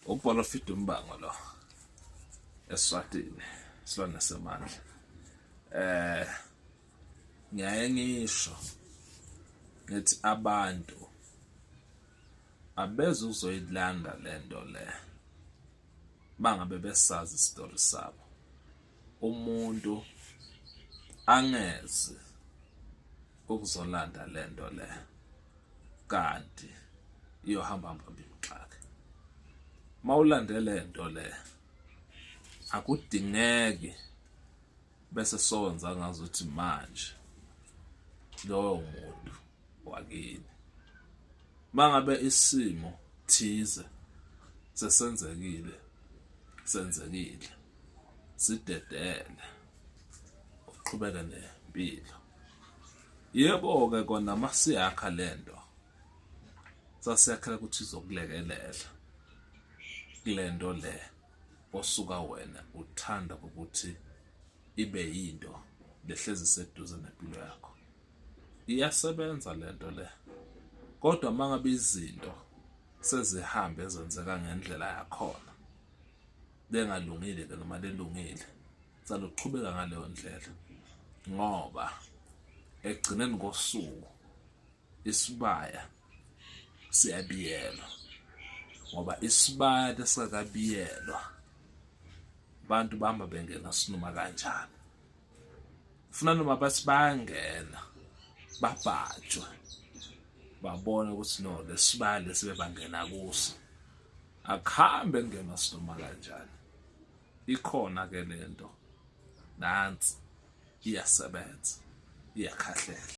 Ukubhala fida umbango lo eswatini silwane semandla eh ngiyaye ngisho ngithi abantu abeze uzoyilanda lento le bangabe besazi isitori sabo umuntu angeze ukuzolanda le nto le kanti iyohamba mbambi mxaka uma ulande le nto le akudingeki bese sowenza ngazo ukuthi manje lowo muntu wakini mangabe isimo thize sesenzekile senzekile sidedele uqhubeke nempilo yebo-ke kona uma siyakha le nto sasiyakhela ukuthi izokulekelela kule nto le osuka wena uthanda ukuthi ibe yinto lehlezi seduze nempilo yakho iyasebenza le nto le kodwa uma ngabe izinto sezihambe zenzeka ngendlela yakhona bengalungile ke noma lelungile saloqhubeka ngaleyo ndlela ngoba ekugcineni kosuku isibaya siyabiyelwa ngoba isibaya lesakabiyelwa abantu bahamba bengena sinoma kanjani funa noma bathi bayangena babhajwe babone ukuthi no lesibaya lesibebangena kuso akuhambe kungena sinoma kanjani ikhona ke lento nansi iyasebenza iyakhahlela